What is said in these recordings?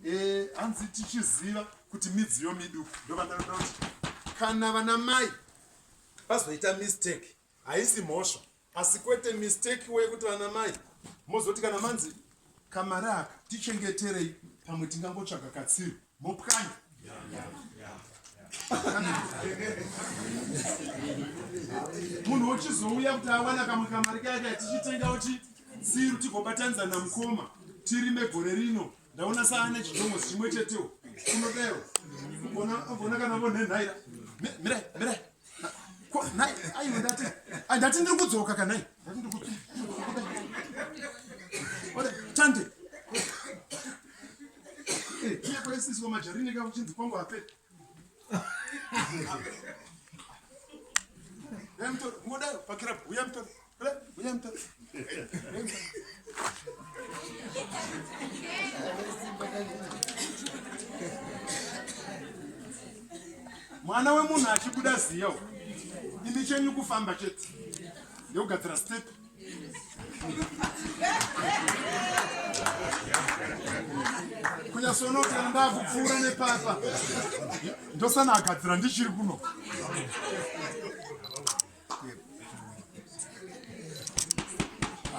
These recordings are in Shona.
Eh, hanzi tichiziva kuti midziyo miduku ndovandaroda kuti kana vana mai vazoita mistake haisi mhosva asi kwete mistake wekuti vana mai mozoti kana manzi kamari aka tichengeterei pamwe tingangotsvaga katsiru mopwanya munhu wochizouya kuti awana kamwe kamari kaya kaya tichitengawo chisiru tigobatanidza namukoma tirime gore rino ndaona saane chidomo chimwe chetewo unodero ogona kana vonhenhaira mirai mirai ndati ndiri kudzoka kanai tande kwaisisi wamajarini ka uchinzi kwangu hape uya mtori uya mtori mwana wemunhu achibuda ziya u imi chenyu kufamba chete ndekugadzira step kunyasoona kuti kana ndakupfuura nepapa ndosana agadzira ndichiri kuno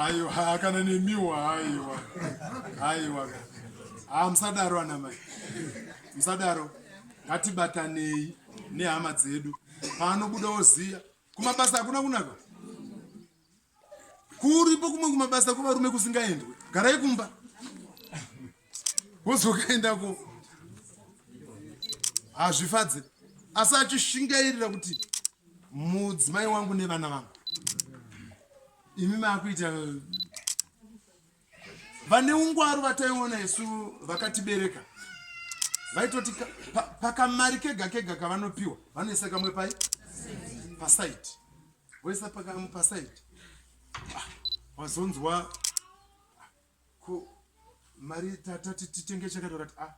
aiwa kana nemiwo aiwa aiwa haa ah, musadaro ana mai musadaro ngatibatanei nehama dzedu paanobuda oziya kumabasa hakuna kunaka Kuripo kumwe kumabasa kwevarume kusingaendwe. Garai kumba. Wozokaenda ko. Hazvifadze. Asi achishingairira kuti mudzimai wangu nevana vangu. Imi makuita vane ungwaru vataiona isu vakatibereka vaitoti pakamari kega kega kavanopiwa vanoisa kamwe pai pasaidi voisa pakamwe pasaidi ah, wazonzwa ko mari tatati titenge chakati vakati a ah,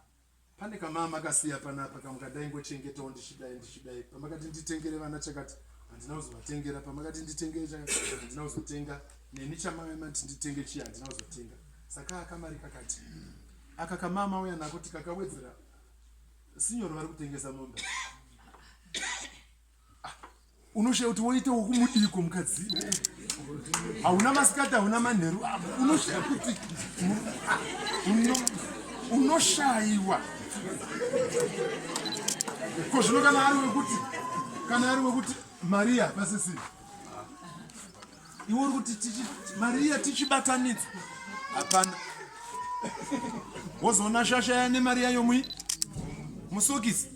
Pane kamama makasiya panapa kamwe kandaingochengetawo ndichidai ndichidai pamakati nditengere vana chakati handina kuzovatengera pamakati nditengere chakati handina kuzotenga neni chamamati nditenge chiya handina kuzotenga saka akamari kakati aka kamama uya nako tikakawedzera sinyoro vari kutengesa mombe unoshaya kuti woita wokumudiko mukadzi hauna masikati hauna manheru unoshaya kuti unoshaiwa ko zvino kana ari wekuti kana ari wekuti mariya pasisi iwe uri kuti mariya tichibatanidza hapana wozoona shasha yane mariya yomwi musokisi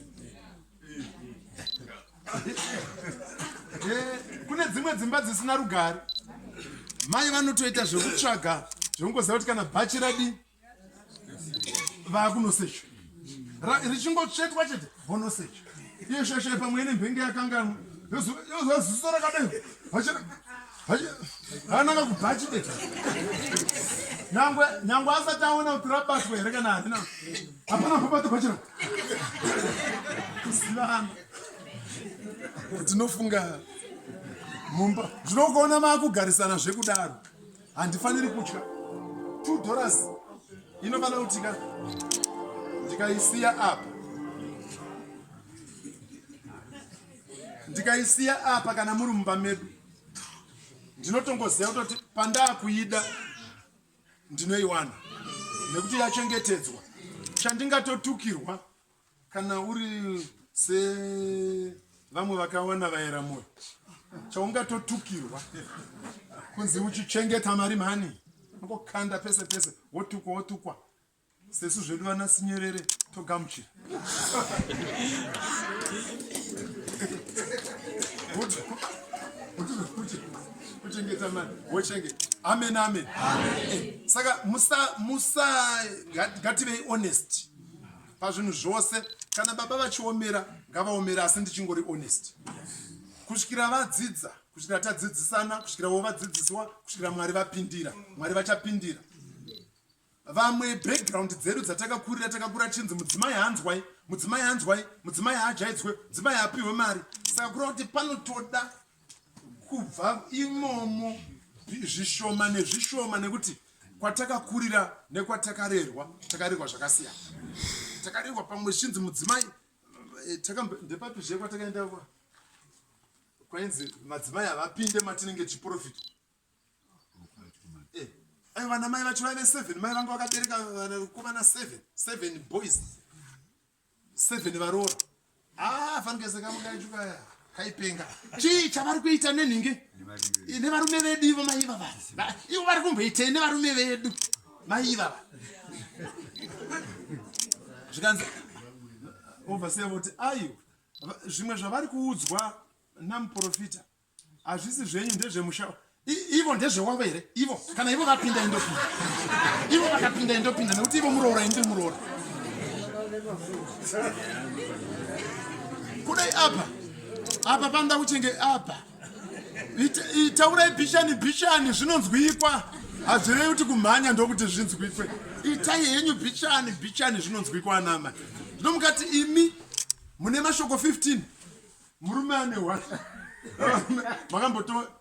eh, kune dzimwe dzimba dzisina rugare mai vanotoita zvekutsvaga zvekungoziva kuti kana bhachi radi vakunosecho richingotsvetwa chete vonosecho iyo shasha pamwe ine mbenge yakanganwa yozoziso rakadai ananga kubhachi beta nyangwe nyangwe asati aona kuti rabatwa here kana harina hapana pabato pachira kuzivana tinofunga mumba zvinokuona maakugarisana zvekudaro handifaniri kutya two dollars inofanira kutika ndikaisiya apa ndikaisiya apa kana muri mumba medu ndinotongoziva kutoti pandakuida ndinoiwana nekuti yachengetedzwa chandingatotukirwa kana uri sevamwe vakawana vaera moyo chaungatotukirwa kunzi uchichengeta mari mhani angokanda pese pese wotukwa wotukwa sesu zvedu vana sinyerere togamuchira kuchengeta mari wochengeta amen amen eh, saka musa musa ngativei honest pazvinhu zvose kana baba vachiomera ngavaomera asi ndichingori honest kusvikira vadzidza kusvikira tadzidzisana kusvikira wo vadzidzisiwa kusvikira mwari vapindira mwari vachapindira vamwe background dzedu dzatakakurira takakura chinzi mudzimai hanzwai mudzimai hanzwai mudzimai haajaidzwe mudzimai haapiwe mari saka kureva kuti panotoda kubva imomo zvishoma nezvishoma nekuti kwatakakurira nekwatakarerwa takarerwa zvakasiyana takarerwa pamwe zvinzi mudzimai eh, ndepapi zve kwatakaenda kwainzi madzimai havapinde matinenge chiprofita Eh, ayo vana mai vacho vaive seven mai vanga vakabereka vanakomana seven seven boys seven varoora haa ah, fanikesekamudaichukaya kaipenga chii chavari kuita nenhingi nevarume vedu ivo mai ivava ivo vari kumboitei nevarume vedu mai ivava zvikanzi ovasiya voti ayo zvimwe zvavari kuudzwa namuprofita Hazvisi zvenyu ndezvemusha ivo ndezvewavo here ivo kana ivo vapinda indopinda ivo vakapinda indopinda nekuti ivo muroora ini ndiri muroora kudai apa apa panoda kuchenge apa taurai bishani bishani zvinonzwikwa hazvirei kuti kumhanya ndokuti zvinzwikwe itai henyu bishani bishani zvinonzwikwa anama zvino mukati imi mune mashoko 15 murume ane one makamboto